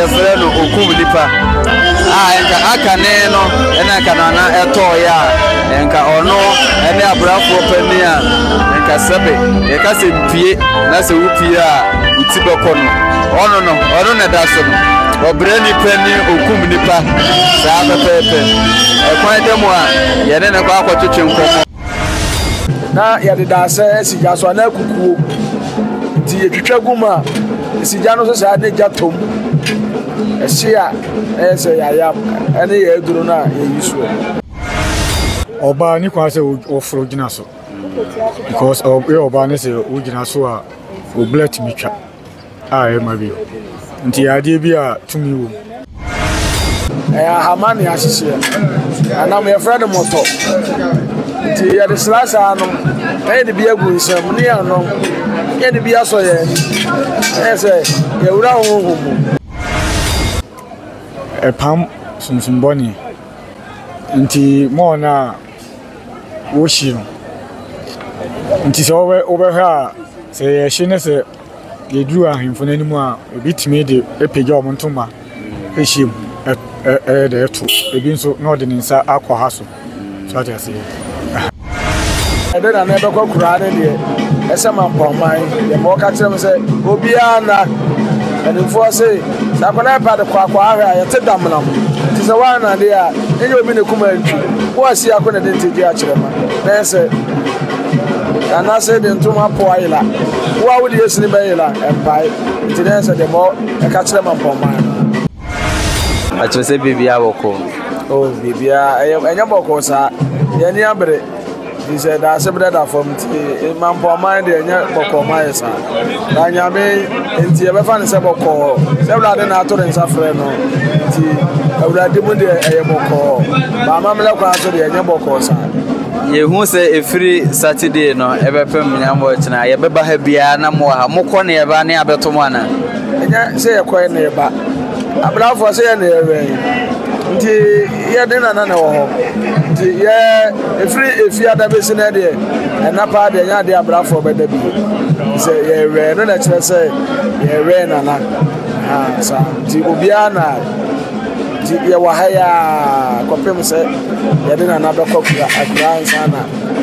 yɛfrɛ no okum nipa a nka aka ne no ɛna nka nana ɛtɔɔyɛ a nka ɔno ɛne abrafoɔ panin a nka sɛbe yɛka sɛ mpie na sɛ wopie a woti bɛkɔ no ɔno no ɔno na ɛda so no ɔbrɛ nipa ni okum nipa saa pɛpɛɛpɛ ɛkwan dɛ mu a yɛne ne kɔ akɔtwetwe nkɔmmɔ Na yɛde dasɛ asi gya so anaa kukuo nti yɛtwitwa gu mu a ɛsi gya no so saa ne gya tom ɛhye a ɛyɛ sɛ yɛayam ɛne yɛ aduro no a yɛyi soɔ ɔbaa ne kwan sɛ wɔforo gyina so because ɔbaa ne sɛ wogyina so a obla tumi twa a ɛrema bi. Nti ɛyɛ adeɛ bi a tumi wɔ mu. Ɛyɛ ahama ne ahyehyeɛ. Anam yɛfrɛ no mɔtɔ. Nti yɛde sra saa nom na yɛde bi agu nsam ne yɛanom na yɛde bi asɔ yɛn ani. Ɛyɛ sɛ yɛwura honhom mu. Ɛpam sunsum bɔne. Nti mɔɔ no a wɔhyi no. Nti sɛ wobɛhwɛ a sɛ yɛhye ne sɛ. Yɛduruu ahemfo no anim a, ebi tumi de apagya wɔn ntoma hyia mu, ɛyɛ dɛ ɛto. Ebi nso na ɔde ne nsa akɔ ha so. So ate aseɛ. ɛde na na ɛbɛkɔ kuraa ne deɛ ɛsɛ ma mpɔman yɛ ma ɔka kyerɛ m sɛ obiara na mpanimfoɔ se sɛ akwadaa yɛ pɛ de kɔ akɔ ahwɛ a yɛte damena mu nti sɛ woana deɛ a ɛnyɛ obi na ɛkum antwi woasi ako na ɛde ntegye akyerɛ ma na ɛsɛ anaasɛ de ntoma po ayera wo a wode asini bɛyera mpae nti na ɛsɛ deɛ mɔ ɛka kyerɛ ma mpɔmma ɛkyerɛ sɛ biribia bɔkɔ oh, biribia ɛnyɛ bɔkɔ saa yɛni abere nti sɛ daase berɛ da fam nti eh, ma mpɔmma deɛ ɛnyɛ bɔkɔ ma yɛ saa na nyame nti yɛbɛfa ne sɛ bɔkɔ sɛ awurade na ato ne nsa frɛ no nti awurade mu deɛ ɛyɛ bɔkɔ baama mmerɛ kwan so deɛ ɛnyɛ bɔkɔ saa Yɛhu sɛ ɛfiri Saturday no ɛbɛpem nyamɔ tena yɛbɛba ha biara na mo ha mokɔ ne yɛba ne abɛto mo ana? Ɛnyɛ sɛ yɛkɔɛ ne yɛba abrafoɔ sɛ yɛ ne yɛwɛn nti yɛde nana na ɛwɔ hɔ nti yɛ ɛfiri efiada bɛsi no deɛ ɛna paa deɛ ɛnyɛ adeɛ abrafoɔ bɛda bi sɛ yɛwɛn no na ɛkyerɛ sɛ yɛwɛn nana saa nti obiara na Nti yɛwɔ ha yi ara kɔpem sɛ yɛde Nana bɛkɔ kura akura ansa na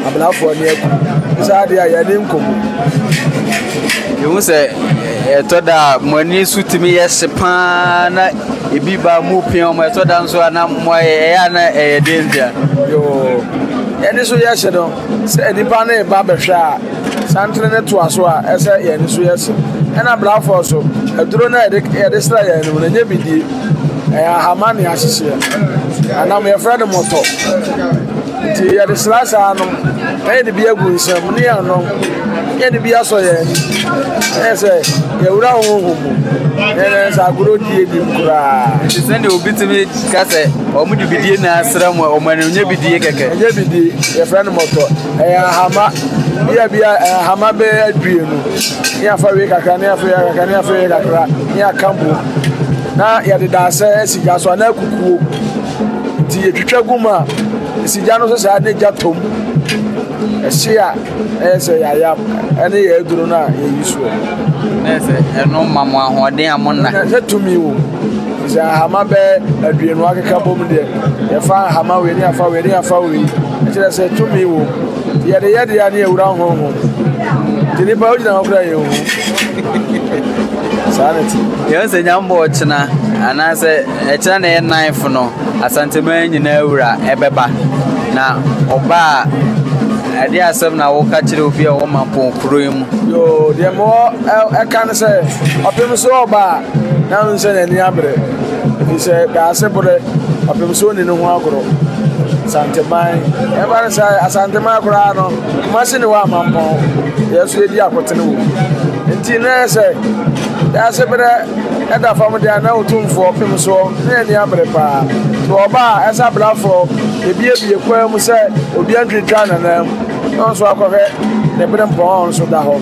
abelafoɔ ne aku. Nso adeɛ a yɛne nkɔmu. Yɛhu sɛ ɛtɔ da a mo ani so tumi yɛ hye paa na ebi ba mu pia wɔn ɛtɔ da nso a na mo ayɛ ɛyɛ a na ɛyɛ den ntia. yoo yɛne so yɛ hye no sɛ nipa no ba bɛhwɛ a santere ne toa so a ɛsɛ yɛne so yɛ hye ɛna blafoɔ so aduro no a yɛde sra yɛn no mu no ɛnyɛ bidie Ɛyɛ ahama ne ahyehyeɛ anam yɛfrɛ no mɔtɔ nti yɛde sra saa no na yɛde bi agu nsam ne yɛanom na yɛde bi asɔ yɛn ani ɛyɛ sɛ yɛwura honhom mu yɛnɛ sɛ agorɔ die bi koraa nti sɛdeɛ obi tumi ka sɛ ɔmo de bidie na asra mu a ɔmo ani nyɛ bidie kɛkɛ ɛnyɛ bidie yɛfrɛ no mɔtɔ ɛyɛ ahama bia bia ahama bɛyɛ aduonu ne yɛafa wei kakra ne yɛafa wei kakra ne yɛafa wei kakra ne yɛaka bom na yɛde daasɛ asi gya so anaa kukuo nti yɛtwitwa gu mu a ɛsi gya no so saa na gya tɔm ɛhye a ɛyɛ sɛ yɛayam ɛne yɛ aduro no a yɛyi soɔ na ɛsɛ ɛno ma mo ahoɔden a mo nna sɛ tumi wɔ sɛ ahama bɛ aduonu akeka bom deɛ yɛfa ahama wei ne afa wei ne afa wei ɛkyerɛ sɛ tumi wɔ Yɛde yɛ dea ne awura nhonhom nti nipa wogyina hɔ kora yɛn hu saa ne ti. Yɛn sɛ nyambɔ ɔkyena anaasɛ ɛkyena na ɛyɛ nanfo no asanteman nyinaa wura ɛbɛba na ɔba a ɛde asɛm na wɔka kyerɛ obi a wɔma pɔ kuro yi mu. Yoo deɛ mɔ ɛka no sɛ ɔpem so ɔba a na nsɛ n'ani abere. Efisɛ Daasebrɛ ɔpem so nni ne ho agorɔ. Asanteman, ɛba no sɛ Asanteman koraa no, Kumasi ne hɔ amampɔn, yɛn nso yɛdi akotene wɔ mu. Nti na ɛyɛ sɛ Daasebrɛ ɛda fam deɛ na Otumfoɔ pem soɔ ne ani abere paa. Sɛ ɔba a, ɛsa blafoɔ, yɛbiebie kwan mu sɛ obiara ntwintwa ne nan mu. na ɔnso akɔhwɛ ne bere mpɔn a ɔnso da hɔ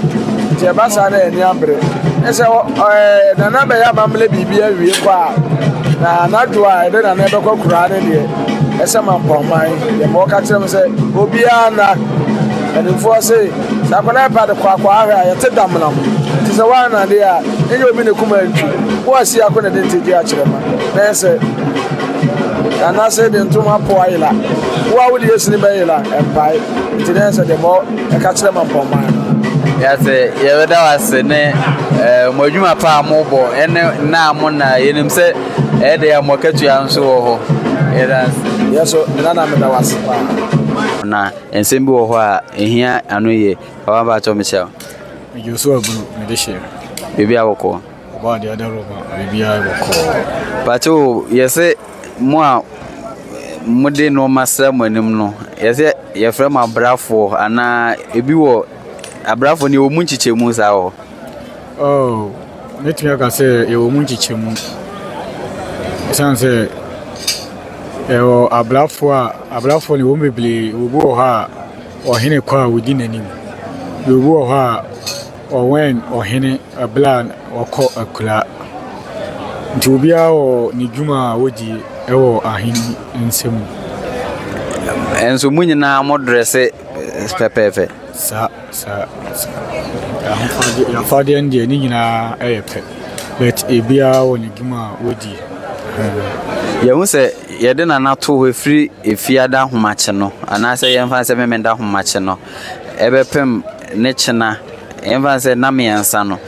nti ɛba saa na ani abere ne sɛ ɛɛ nana bɛyɛ amammerɛ biribi awie kɔ a na anadwo a ɛde nana bɛkɔ kuraa ne deɛ ɛsɛ ma mpɔnman yɛ ma ɔka kyerɛ m sɛ obiara na mpanimfoɔ se sɛ akwadaa ɛpa de kɔ akɔ ahwɛ a yɛte damena ho nti sɛ woanade a ɛnyɛ obi ne kuma ntwi woasi ako ne de nti gye akyerɛ ma na ɛsɛ Nanase de ntom apow ayera. Wo a wode yɛsini bɛyera mpae. Nti na ɛsɛ debɔ ɛka kyerɛ ma mpɔmman no. Yɛse yɛbɛda wo ase ne eh, mo adwuma pa a mobɔ ɛne nna a mo na yɛnim sɛ ɛyɛ de yɛ mo akatua nso wɔ hɔ. Yɛda ase. Yɛso nana meda wo ase paa. na nsɛm bi wɔ hɔ a ɛhia ano yie papa mpakyɛw mehyia wo medwo so abunu mede hyɛ biribi abɔkɔɔ Ɔbaa deɛ ɔda room a biribiara bɔ kɔɔ. Pàtó yɛsɛ mo a mo de nneɛma sra mo anim no yɛsɛ yɛfrɛ mo abrafoɔ anaa ebi wɔ abrafoɔ no yɛwɔ mu nkyekyɛmu saa wɔ. Oh, mɛtumi aka sɛ yɛwɔ mu nkyekyɛmu. Ɛsiane sɛ yɛwɔ abrafoɔ a abrafoɔ no yɛwɔ mu bebree, obi wɔ hɔ a ɔhene kɔ a odi n'anim, obi wɔ hɔ a Ɔwɛn ɔhene bere a ɔkɔ akura. Nti obiara wɔ ne dwuma a odi wɔ ahene nsa mu. Nso mo nyinaa mo dresse pɛpɛɛpɛ. Saa saa saa. Ahofadi afadeɛ no deɛ ne nyinaa yɛ pɛ. But ebiara wɔ ne dwuma a odi. Yɛhu sɛ yɛde nana to hɔ firi efiada ahomakye no anaasɛ yɛmfa sɛ memenda ahomakye no. Ɛbɛpem ne kyena, yɛmfa no sɛ nna mmiɛnsa no,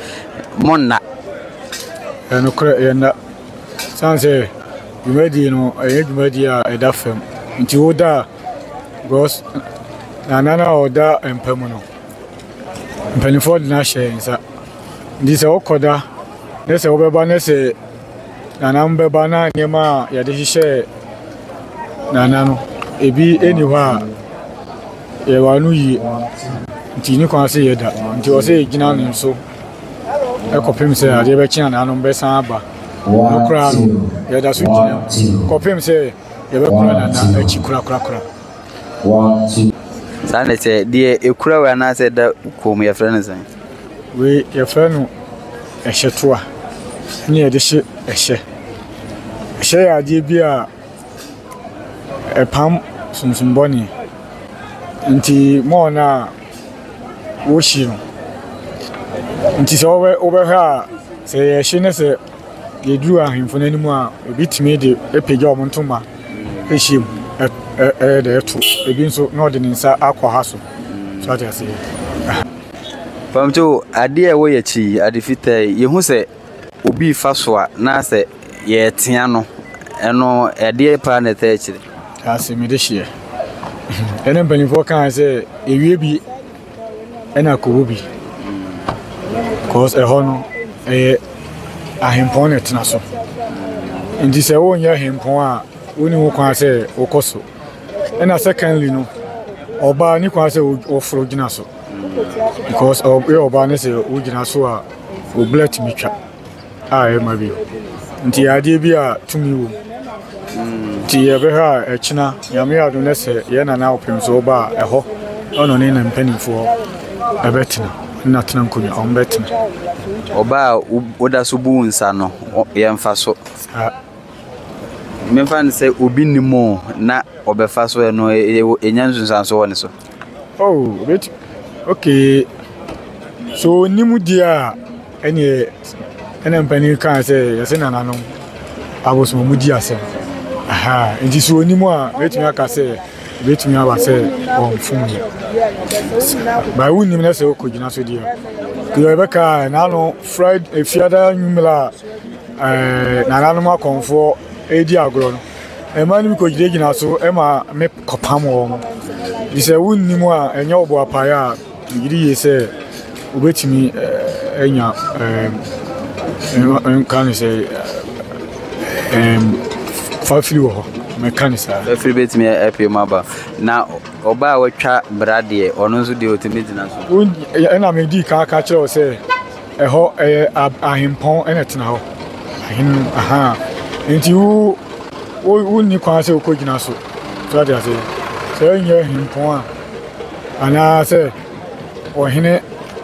monna. Ɛyɛ nokorɛ, ɛyɛ nna. Sane sɛ dwumadie no, ɛyɛ dwumadie a ɛda fam. Nti woda a, because na nna no a ɔda mpa mu no, mpanimfoɔ de no ahyɛ yɛn nsa. Nti sɛ wokɔda, ne sɛ wobɛba ne sɛ. Nana no bɛba na nneɛma a yɛde hyehyɛɛ Nana no, ebi nni hɔ a yɛwɔ ano yie nti ne kwan sɛ yɛda nti ɔsɛ yɛgyina ne so kɔpem sɛ adeɛ bɛkye Nana no bɛsan aba no koraa no yɛda so gyina kɔpem sɛ yɛbɛkora Nana akyi korakorakora saa na ɛsɛ deɛ ɛkura wɔ anaasɛ da kɔn mu yɛfrɛ no sɛn Wei yɛfrɛ no ɛhyɛtoa ne yɛde hye ɛhyɛ. Ɛhyɛ yɛ adeɛ bi a ɛpam sunsum bɔne. Nti mɔɔ no a wohyi no. Nti sɛ wobɛ wobɛhwɛ a sɛ yɛhye ne sɛ yɛduru ahemfo no anim a ebi tumi de apagya wɔn ntoma ahyɛ mu ɛ ɛ ɛyɛ dɛ ɛto. Ebi nso na ɔde ne nsa akwaha so. So ate aseɛ? Pamtoo adeɛ a ɛwɔ yɛn akyi yi, ade fitaa yi, yɛhu sɛ obi refa so a na sɛ yɛretea no, ɛno ɛdeɛ paa na ɛtaa akyire. Ase mede hyeɛ. Ɛna mpanimfoɔ kaa sɛ ewie bi ɛna kɔwɔ bi. Cause ɛhɔ no ɛyɛ ahempɔn na ɛtena so. Nti sɛ wonyɛ ahempɔn a wonni ho kwan sɛ wokɔ so. ɛna secondly no ɔbaa ne kwan sɛ ɔforo gyina so because ɔyɛ ɔbaa ne sɛ wogyina so a obla tumi twa a ɛma bi nti adeɛ bi a tumi wɔ nti yɛbɛhwɛ a ɛkyena nyame ado ne sɛ yɛ nana wopem so ɔba a ɛhɔ ɔno ne na mpanimfoɔ ɛbɛtena na tena nkonnwa ɔm bɛtena ɔbaa woda so bu nsa no yɛmfa so Memfa no sɛ obi nnim o na ɔbɛfa so ɛno ɛnya nsunsuanso wɔ ne so. Oh, wait, okay. So onim deɛ a ɛneɛ ɛna mpanin kaa sɛ yɛse nananom abosom ɔmo di asɛm. Aha, nti so onim a wetumi aka sɛ wetumi aba sɛ ɔmfom no. Baa wonim na sɛ ɔkɔ gyina so deɛ. Deɛ ɛbɛka a ɛna no fried efiada nwummerɛ a Nananom akɔmfoɔ redi agorɔ no, mmaa no bi kɔgyinagyina so ma me kɔpam wɔn. Nti sɛ wonni mu a, ɛnyɛ wo boapayɛ a, megye di yie sɛ wobɛtumi anya nka ne sɛ fafiri wɔ hɔ. mɛka ne saa. afiri bɛtumi apue mu aba na ɔbaa a watwa bra deɛ ɔno nso deɛ ɔtumi gyina so. ɛna medi kan ka kyerɛ wo sɛ Ɛhɔ ɛyɛ ahempɔn na ɛtena hɔ ahene no ahaa nti wo wo wonni kwan sɛ wokɔ gyina so so ate ase sɛ ɛnyɛ ahempɔn a anaa sɛ ɔhene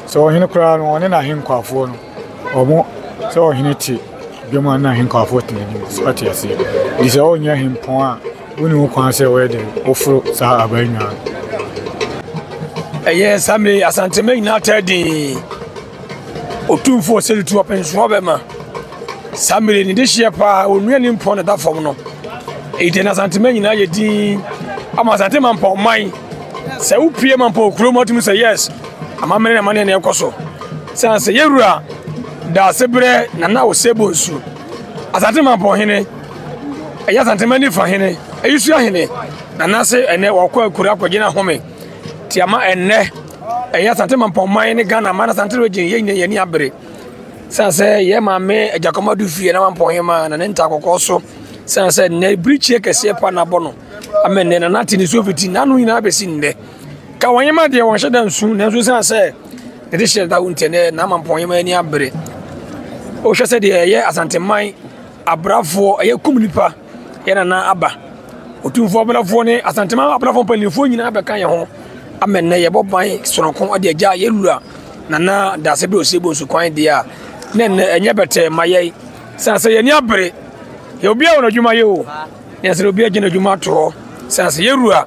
sɛ ɔhene koraa no ɔne n'ahenkwafoɔ no ɔmo sɛ ɔhene te dwom a n'ahenkwafoɔ tena anim so ate ase nti sɛ ɔnyɛ ahempɔn a Wonni ho kwan sɛ wɔyɛ dɛn? Woforo saa aban nnwaa no. Ɛyɛ saa mmerɛ yi, Asantema nyinaa taa dinn. Otumfo Osei tu ɔpensoɔ bɛma. Saa mmerɛ yi, ne dehyeɛ paa, onua ne mpɔn na ɛda fam no. Enti na Asantema nyinaa yɛ dinn. Ama Asantema mpɔnman. Sɛ wopie ma mpɔn kurom atumi sɛ yes, amammerɛ na amanneɛ na ɛkɔ so. Sɛ sɛ yɛwura Daasebrɛ Nana Osei Bonsu. Asante Mampɔn hene, ɛyɛ Asante Mani fa hene, Ayisua hene, na n'ase ɛnɛ wɔkɔ akura akɔgyina home te ama ɛnɛ ɛyɛ Asante Mampɔn man ne Ghana man Asante region yɛ nyina yɛni abere sɛ sɛ yɛ maame Agyankɔma do fie na Mampɔn hema na ne nta kɔkɔɔ so sɛ sɛ nnɛ birikyie kɛseɛ pa na abɔ no ama nnɛ na n'ate ne so fiti n'ano nyinaa bɛsi nnɛ ka wɔn yɛma deɛ wɔn hyɛ da nsu nanso sɛ sɛ Ɛde hyɛ da wo ntɛ nɛ n'amampɔnyɛ ma ani abere. Wohwɛ sɛ deɛ ɛyɛ Asanteman abrafoɔ ɛyɛ kum nipa yɛ nana aba. Otumfoɔ abelafoɔ ne Asanteman abelafoɔ mpanimfoɔ nyinaa bɛka yɛn ho ama nnɛ yɛbɔ ban sononko de agya yɛ wura nana daase bɛ osie bonsu kwan deɛ a ne nnɛ ɛnyɛ bɛtɛ ma yɛn sane sɛ yɛni abere yɛ obi a wɔn adwuma yɛ o ne nsɛ obi agyina adwuma toɔ sane sɛ yɛwura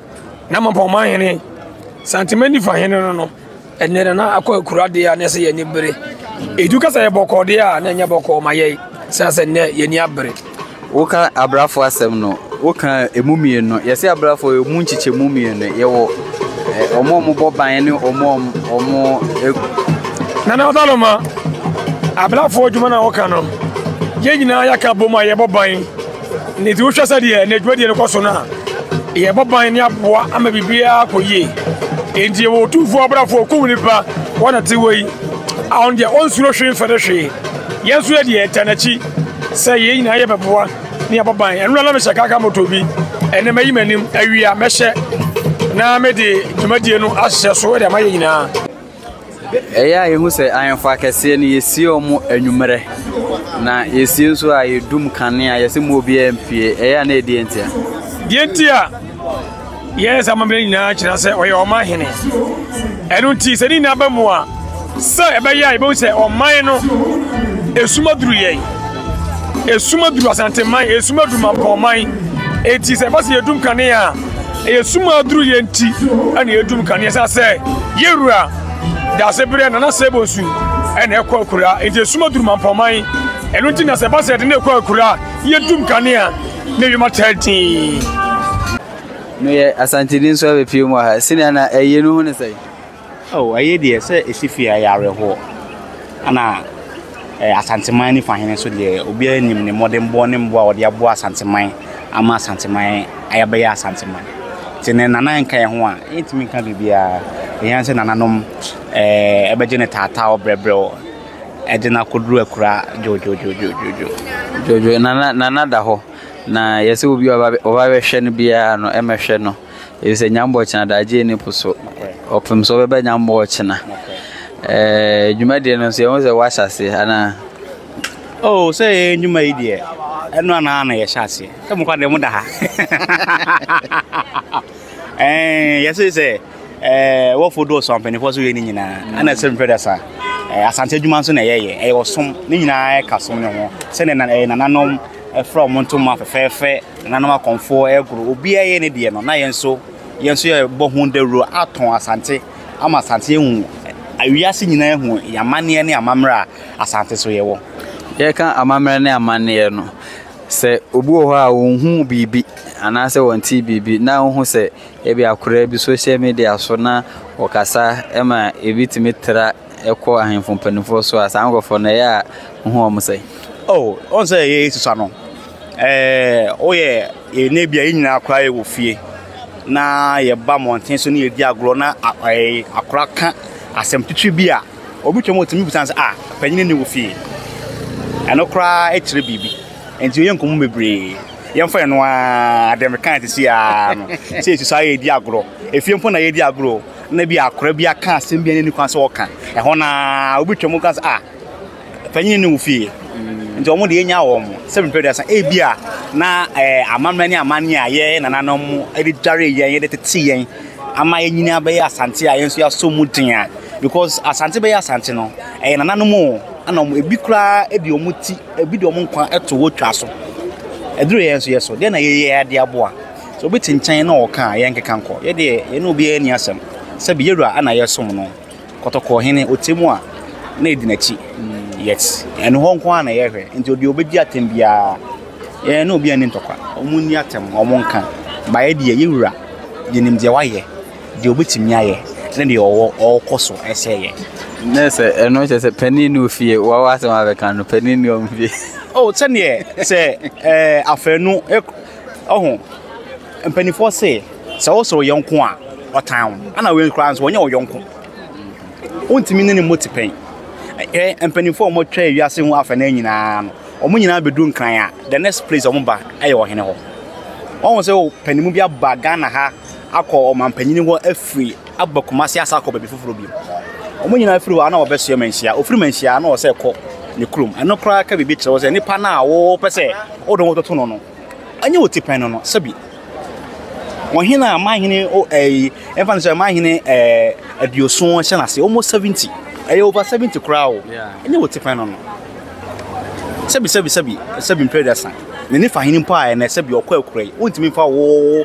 na mampɔn ma hene Asanteman nifa hene no no Ɛnɛ no, na akɔ akura deɛ a na ɛsɛ yɛn ani bere. Edu ka sɛ yɛ bɔkɔɔ deɛ a, na ɛnyɛ bɔkɔɔ ma yɛn. Sɛ sɛ nnɛ yɛn ani abere. Woka abrafo asɛm no, woka emu mmienu. Yɛse abrafo emu nkyekyɛmu mmienu. Yɛwɔ wɔn a wɔbɔ ban ne wɔn a wɔn. Nana Ɔsaloma, abrafo adwuma na woka no. Yɛn nyinaa yɛaka bom a yɛbɔ ban. Ne ti wohwɛ sɛdeɛ ne dwumadie no kɔ so no a yɛbɔ ban ne aboa ama biribiara kɔ yie enti yɛwɔ ɔtumfoɔ abrafoɔ kum nipa wɔn na te wɔ yi a ɔno deɛ ɔnsuro hwee mfɛre hwee yɛn nso yɛ deɛ ɛtɛ n'akyi sɛ yɛn nyinaa yɛ bɛboa ne yɛbɔ ban ɛno na na mehyɛ kaka moto bi ɛnɛ mayi m'anim awia mɛhyɛ na mede dwumadie no ahyehyɛ so de ama yɛ nyinaa Ɛyɛ a yɛhu sɛ ahemfo akɛseɛ no yɛsie wɔn anwummerɛ na yɛsie nso a yɛdum kanea yɛsɛ mu obiara mpie ɛyɛ a na ɛdeɛ ntia deɛ nti a yɛyɛ sɛ amammerɛ nyinaa kyerɛ sɛ ɔyɛ ɔma hene ɛno nti sɛ ne nyinaa ba mu a sɛ ɛbɛyɛ a yɛbɛhu sɛ ɔman no ɛsuma duru yɛn ɛsuma duru asanteman ɛsuma duru mampɔman ɛti sɛ ɛbɛ sɛ yɛdum kanea a ɛyɛ sum a aduru yɛ nti ɛna yɛdum kanea sɛ sɛ yɛwura daase berɛ nana sɛ bɔ nsu ɛna ɛkɔ akura nti ɛsum aduru mampɔman ɛno nti na sɛ ɛba sɛ ɛde ne ɛkɔ akura yɛdum kanea ne wiem ataa din meyɛ asanteni nso abɛpie mu ha sɛnea na ɛyɛ no ho ne sɛe Oh, ɛyɛ deɛ sɛ ɛsi fie a ɛyɛ awerɛhoɔ. Ɛna eh, Asanteman ne fahene nso deɛ obiara nim ne mmɔdenbɔ ne mmoa a ɔde aboa Asanteman ama Asanteman ayɛbɛyɛ Asanteman. Nti ne nana nka yɛn ho a, yɛntumi nka biribiara. Ɛhia sɛ nananom eh, ɛbɛgye ne taataaw brɛbrɛw ɛde no akɔduru akura dwodwodwodwodwo. Dwodwo, nana, nana da hɔ. Na yɛsɛ obi a ɔba bɛhwɛ no biara no, ɛmɛhwɛ no. efisɛ nyambɔ kyena daagye nni po so, ɔpem sɛ ɔbɛba nyambɔ ɔkyena. Ɛɛ dwumadie no nso yɛn ho sɛ wahyɛ aseɛ anaa. Oh, sɛ yɛ nnwuma yi deɛ ɛno anaa na yɛhyɛ aseɛ sɛ mokɔ deɛ moda ha eh, yɛse sɛ eh, wɔfo dɔɔso ampanimfoɔ so yɛ ne nyinaa ana sɛ mfrɛ da saa eh, asante adwuma nso na ɛyɛyɛ ɛyɛ ɔsom ne nyinaa ɛka som ne ho sɛdeɛ nananom ɛfra wɔn ntoma fɛfɛɛfɛ nananom akɔmfoɔ ɛregoro obiara yɛ ne deɛ no na yɛn nso yɛn nso yɛbɔ ho dawuro atɔn asante ama asante ehu awiase nyinaa ehu yɛn amanneɛ ne amammerɛ a asante so yɛwɔ. yɛka amammerɛ ne amanneɛ no sɛ obi wɔ hɔ a ɔnhu biribi anaasɛ wɔnte biribi na wohu sɛ ebi akoraa bi social media so na wɔkasa ma ebi tumi tra ɛkɔ ahemfo mpanimfoɔ so a saa nkurɔfoɔ no ɛyɛ a wohu wɔn sɛ oh ɔn sɛ ɛyɛ susua no ɛɛ woyɛ yɛn bi a yɛn nyinaa koraa yɛwɔ fie na yɛba mmɔnten so ne yɛdi agorɔ na ɛɛ akora ka asɛm titiri bi a obi twam ɔtumi bisa sɛ ah panyin ni wɔ fie ɛno koraa ɛkyerɛ biribi nti yɛn nkɔmɔ bebree yɛmfa yɛn no ara adɛm kan te si aa no sɛ yɛsusua yɛdi agorɔ efie mpo na yɛdi agorɔ na bi akora bi aka asɛm bi a ɛni kwan sɛ ɔka ɛhɔ na obi twam ka sɛ a panyin ne wo fie nti wɔn deɛ nya wɔn sɛ mpɛ duasa ebi a na ɛɛ amammerɛ ne amanneɛ a yɛ nananom de dware yɛn yɛde tete yɛn ama yɛn nyinaa bɛyɛ asante a yɛn nso yɛasɔ mu den a because asante bɛyɛ asante no ɛyɛ nananom o ɛna wɔn ebi koraa de wɔn ti ebi de wɔn nkwa ɛto wɔtwa so ɛduru yɛn nso yɛ so deɛ na yɛyɛ de aboa. Sɛ obi te nkyɛn na ɔka a, yɛnkeka nkɔ. Yɛ deɛ, yɛne obiara nni asɛm. Sɛbe yɛ wura a na yɛsom no. Kɔtɔkɔɔhene, ɔte mu a, na yɛdi n'akyi. Yet, ɛno hɔ nko ara na yɛhwɛ. Enti odeɛ ɔbɛdi atɛm biara, yɛne obiara nni ntɔkwa. Wɔnni atɛm, wɔnka. Ba yɛ deɛ, yɛ wura, yɛnim deɛ wayɛ, deɛ ɔbɛtumi ayɛ, ne deɛ ɔwɔ, ɔrekɔ so sɛ yɛ. Ne sɛ, ɛno kyerɛ sɛ panin nni wo fie, wo ara w'asɛm abɛka no, panin nni wɔn fie. Oh, sɛdeɛ, sɛ, eh, afanu, eh. Ɔho, mpaninfoɔ se, sɛ wo sɔ wo yɔnko a, ɔtan wo. Ɛna wei koraa nso, ɔnyɛ wo yɔnko. Wontumi ne ne mmɔ tipɛn. Ɛ, ɛ, mpaninfoɔ a wɔatwa wiase ho afɛnaa nyinaa no, wɔn nyinaa bɛdu Nkran a, the next place wɔn ba yɛ ɔhene hɔ. Ɔho sɛ, o, paninmu bi aba Ghana ha akɔ ɔmanpanin hɔ afiri aba Kumasi asan akɔ baabi foforɔ bio. Wɔn nyinaa firi hɔ a na wɔbɛsoɛ manhyia. Wɔfiri manhyia a na wɔsɛ kɔ ne kurom. Ɛno koraa ka biribi kyerɛ wo sɛ nipa no a wɔpɛ sɛ wode wo toto no no, ɛnyɛ wo tipɛn no no, sɛbi. Ɔhene a mahene ɛyi ɛmfa no sɛ mahene ɛɛ aduoson hyɛ n'ase, almost seventy, ɛyɛ over seventy koraa o, ɛnyɛ wo tipɛn no no. Sɛbi sɛbi sɛbi sɛbi mpere dɛsa. N'ani fa hene mpo a ɛnɛ sɛbi ɔkɔ akura yi, wontumi mfa wo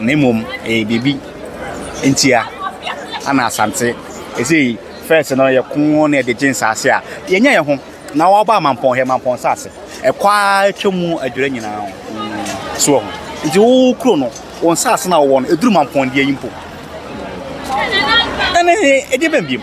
Na mmom ɛyɛ biribi ntia ana asante ɛsei fɛs no yɛ ko na yɛde gye nsaase a yɛnyɛ yɛ ho na wɔba amampɔn yɛ mampɔn nsaase ɛkɔ a atwa mu adwira nyinaa ho so wɔ ho nti wo kuro no wɔn nsaase na wɔwɔ no ɛduru mampɔn deɛ yi mpo ɛne ɛdeɛ bɛn biem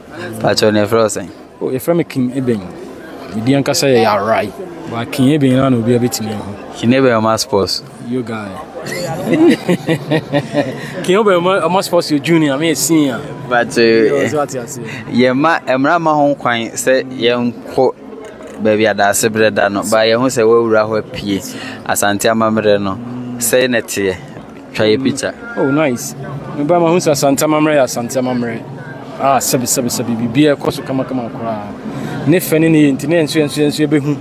Pakyɛw na yɛfrɛ wo sɛn? Oh, yɛfrɛ me King Eben. Me din ankasa yɛ Yarai. But King Eben na obi abɛtumi ahu. King Eben ɔma sports. You guy. King Eben ɔma sports yɛ junior, me yɛ senior. But eh, yɛma mmara ma ho kwan sɛ yɛnkɔ baabi adaase berɛ da no. Ba yɛho sɛ woawura hɔ apue Asante amammerɛ no. Sɛe na ɛteɛ. Twa yɛ pizza. Oh nice. Me ba ma hu sɛ Asante amammerɛ yɛ Asante amammerɛ. Ah sɛbi sɛbi sɛbi biribi ɛkɔ so kama kama koraa. Ne fɛ ne ne yɛ nti ne yɛn nso yɛn nso yɛn nso yɛbɛhu.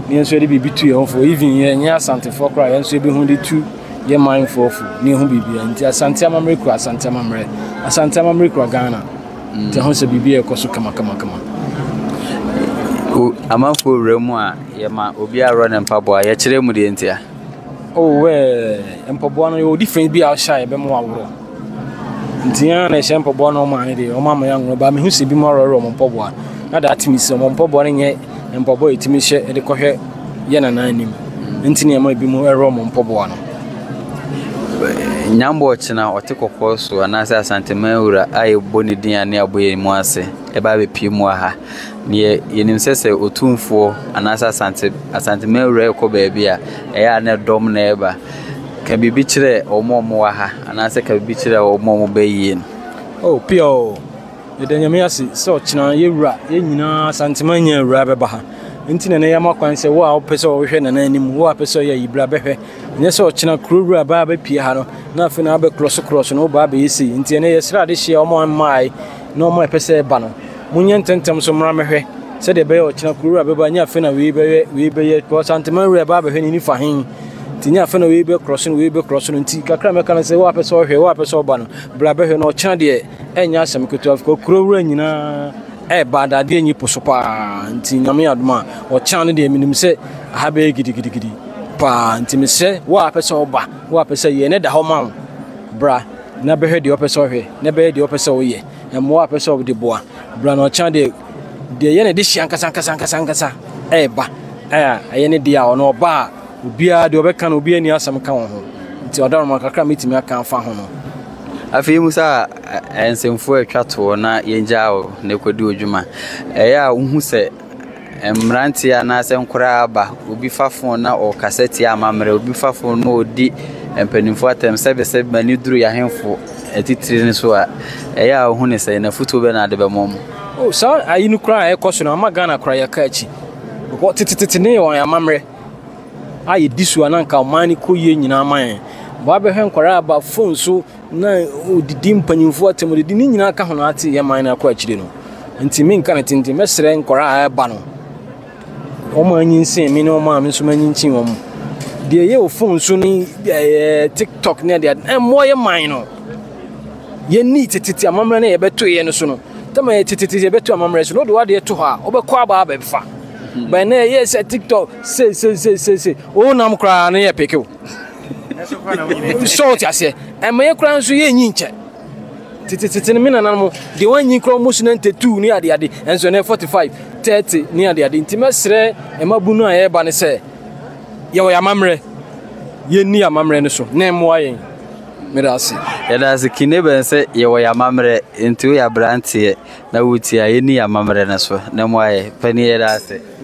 Ne yɛn nso yɛde biribi tu yɛn ho fo. Even yɛn nyɛ Asantefoɔ koraa yɛn nso yɛbɛhu de tu yɛ man foɔ fo. Ne yɛhu biribi a nti Asante amammerɛ kura Asante amammerɛ. Asante amammerɛ kura Ghana. Nti ɛho sɛ biribi ɛkɔ so kama kama kama. Amanfoɔ wura mu a yɛma obi arɔ ne mpaboa yɛkyerɛ mu deɛ ntia. Oh eh, mpaboa no yɛwɔ different bi a ɔhyɛ a yɛbɛma waworɔ. Nti yɛn na ɛhyɛ mpaboa na ɔmo ane deɛ ɔmo ama yɛn anworɔ ba mehu sɛ ebinom aworɔworɔ ɔmo mpaboa na daa tumi sɛ ɔmo mpaboa no nyɛ mpaboa a yɛtumi hyɛ ɛde kɔhwɛ yɛn nana anim nti na yɛma ebinom ɛworɔ ɔmo mpaboa no. Nyambɔ ɔkyena ɔte kɔkɔɔ so anaasɛ Asanteman wura a yɛbɔ ne din a ne abɔ yɛn mu ase ɛba abɛpie mu wɔ ha. Deɛ yɛnim sɛ sɛ Otumfoɔ anaasɛ Asante Asanteman wura rekɔ baabi a, ɛyɛ a na dɔm na ɛreba. Ka biribi kyerɛ wɔn a wɔwɔ ha anaasɛ ka biribi kyerɛ wɔn a wɔba ayie no. Oh Pia o, yɛda Nyame ase sɛ ɔkyena yɛ wura, yɛn nyinaa Asanteman nyaa wura bɛba ha. Nti na ɛnɛ yɛama kwan sɛ wo a wopɛ sɛ wohwɛ Nana anim, wo a pɛ sɛ ɔyɛ ayi bra bɛhwɛ. Ɛnyɛ sɛ ɔkyena kuro wura baa bɛpie ha no, na afei na abɛkorɔso korɔso na wobaa bɛyɛ sei. Nti ɛnɛ yɛsrɛ adehyia wɔn a wɔmmaeɛ, Nnoɔma a ɛpɛ sɛ ɛba no, monyɛ ntɛmntɛm nso mmra mmɛhwɛ, sɛdeɛ ɛbɛyɛ a ɔkyena kuro wura bɛba, nyɛ afei na wei bɛyɛ, wei bɛyɛ, because Anteman wura ɛba abɛhwɛ n'ani fa he, nti nyɛ afei na wei bɛkorɔ so no, wei bɛkorɔ so no, nti kakra a mɛka no sɛ, wo a pɛ sɛ ɔhwɛ, wo a pɛ sɛ ɔba no, bra bɛhwɛ na ɔkyena deɛ ɛnyɛ asɛm ketewa, because kuro wura nyinaa ɛɛba adadeɛ nyi po so paa, nti nyame yɛ adom a ɔkyena no deɛ menim sɛ aha bɛyɛ gidigidigidi paa, nti mesrɛ wo a pɛ sɛ ɔba, wo a pɛ sɛ yɛn no da hɔ ma wo, bra. Na bɛhwɛ deɛ ɔpɛ sɛ ɔhwɛ, na bɛyɛ deɛ ɔpɛ sɛ ɔyɛ, mmoa a ɔpɛ sɛ ɔde boa. Berɛ a na ɔkyena deɛ deɛ ɛyɛ ne dehyeɛ ankasa ankasa ankasa ankasa reba a, ɛyɛ ne dea a, ɔno ɔba a, obiara deɛ ɔbɛka no, obiara nni asɛm ka wɔ ho. Nti ɔdawuroma kakra a mɛtumi aka afa ho no. Afei mu sɛ a, nsɛmfua a ɛtwa toɔ na yɛgyaa wo na ɛkɔdi wo dwuma. Ɛyɛ a wohu sɛ. Mmeranteɛ anaasɛ nkoraa aba, obi fa fon na ɔkasa tia amammerɛ, obi fa fon na ɔdi mpanimfoɔ atɛm sɛbisɛ m'ani duru yɛahemfo atitire no so a, ɛyɛ a ɔhu ne sɛ na futuo bɛ na ade bɛmɔ mu. O oh, saa ayi no koraa a ɛkɔ so no ama Ghana koraa yɛka akyi. Bɔ tetetete ne wɔn amammerɛ a yɛdi so a na nka ɔman no kɔ yie nyinaa ma yɛn. Bɔ abɛhwɛ nkwaraa aba fon so na ɔdidi mpanyimfoɔ atam didi ne nyinaa ka ho na ate yɛ man no akɔ akyire no nti menka ne tenten mɛsrɛ nkwaraa a ɛba no wɔn a anyinsen me ne wɔn a me nso manyinkyin wɔn deɛ ɛyɛ wɔ fon so ne ɛɛ tiktok ne adeɛ ɛmmoa yɛ man no yɛni tetete amammerɛ no yɛbɛto yɛ no so no tɛma yɛ tetete yɛbɛto amammerɛ so no wode wadeɛ to hɔ a wobɛkɔ abaa bɛfa bɛn na ɛyɛ sɛ tiktok sei sei sei sei sei wonam koraa no yɛ pekew sɛ wote aseɛ ɛma yɛ koraa nso yɛnyi nkyɛ tetetete no me nana mo deɛ wɔanyi koraa ɔmo so 92 ne adeade ɛnso ɛnɛ 45 30 ne adeade nti mɛserɛ ɛma bu no a yɛreba no sɛ yɛwɔ yɛ amammerɛ yɛnni yɛ amammerɛ no so na ɛmmoa yɛn mede ase yɛda ase kine bɛn sɛ yɛwɔ yɛ amammerɛ nti woyɛ aberanteɛ na wotia yɛnni yɛ amammerɛ no so na ɛmmoa yɛ pɛne yɛda ase